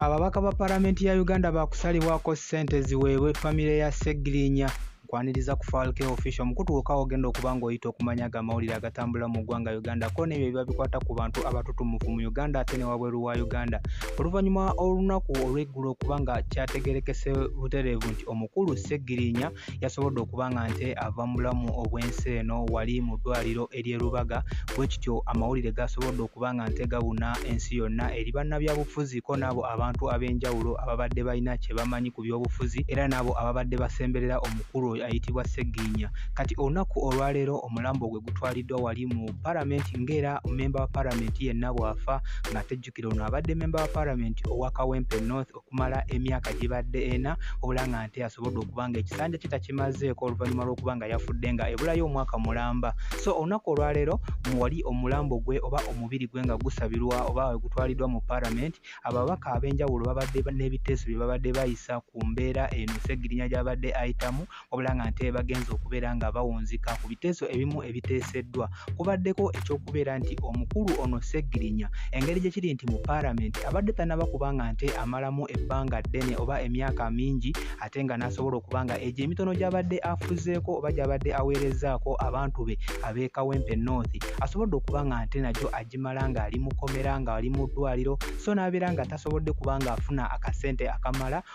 Ababaka ba Palamenti ya Uganda baakusalibwako ssente ziweebwe famire ya Ssegirinya kwaniriza ku Falke Official omukutu gwokka ogenda okuba ng'oyita okumanya aga amawulire agatambula mu ggwanga Uganda ko n'ebyo ebiba bikwata ku bantu abatutumufu mu Uganda ate ne wabweru wa Uganda oluvannyuma olunaku olw'eggulo okuba nga kyategerekese butereevu nti omukulu Ssegirinya yasobodde okuba nga nte ava mu bulamu obw'ensi eno wali mu ddwaliro ery'e Lubaga bwe kityo amawulire gasobodde okuba nga nte gabuna ensi yonna eri bannabyabufuzi ko n'abo abantu ab'enjawulo ababadde balina kye bamanyi ku byobufuzi era n'abo ababadde basemberera omukulu oyo ayitibwa Sseggiinya kati olunaku olwaleero omulambo gwe gutwaliddwa wali mu palamenti ng'era mmemba wa palamenti yenna bw'afa ng'ate jjukira ono abadde mmemba wa palamenti owa Kawempe North okumala emyaka gibadde ena wabula nga nte asobodde okuba nga ekisanja kye takimazeeko oluvannyuma lw'okuba nga yafudde nga ebulayo omwaka mulamba so olunaku olwaleero wali omulambo gwe oba omubiri gwe nga gusabirwa oba wegutwaliddwa mu paramenti ababaka ab'enjawulo babadde n'ebiteeso bye babadde bayisa ku mbeera eno segirinya gy'abadde ayitamu wabula nga nte bagenze okubeera nga bawunzika ku biteeso ebimu ebiteeseddwa kubaddeko ekyokubeera nti omukulu ono ssegirinya engeri gye kiri nti mu paalamenti abadde tanaba kuba nga nte amalamu ebbanga ddene oba emyaka mingi ate nga n'asobola okuba nga egyo emitono gy'abadde afuzeeko oba gy'abadde aweerezzaako abantu be ab'ekawempe north asobodde okuba nga nte nagyo agimala ng'ali mukomera ng'ali mu ddwaliro so n'abeera nga tasobodde kuba ng'afuna akasente akamala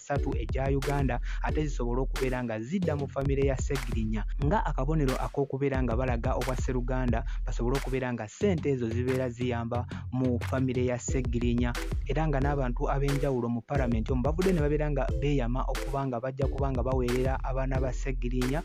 satu egya Uganda ate zisobole okubeera nga zidda mu famire ya Ssegirinya nga akabonero ak'okubeera nga balaga obwa Sseruganda basobole okubeera nga ssente ezo zibeera ziyamba mu famire ya Ssegirinya era nga n'abantu ab'enjawulo mu paramenti omu bavudde ne babeera nga beeyama okuba nga bajja kuba nga baweerera abaana ba Ssegirinya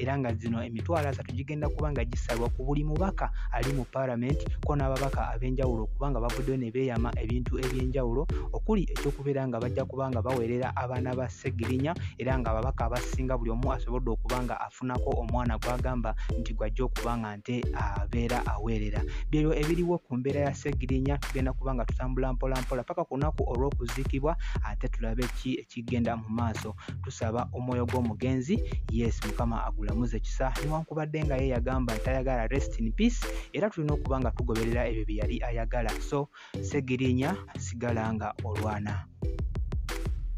era nga zino emitwalo asatu gigenda kuba nga gisalwa ku buli mubaka ali mu palamenti ko n'ababaka ab'enjawulo okuba nga bavuddeyo ne beeyama ebintu eby'enjawulo okuli ekyokubeera nga bajja kuba nga baweerera abaana ba ssegirinya era nga ababaka abasinga buli omu asobodde okuba nga afunako omwana gw'agamba nti gwajja okuba nga nte abeera aweerera byebyo ebiriwo ku mbeera ya ssegirinya tugenda kuba nga tutambula mpolampola paka ku lunaku olw'okuziikibwa ate tulabe ki kigenda mu maaso tusaba omwoyo gw'omugenzi yes mukama agulamuze kisa newankubadde nga ye yagamba tayagala rest in peace era tulina okuba nga tugoberera ebyo bye yali ayagala so segirinya sigala nga olwana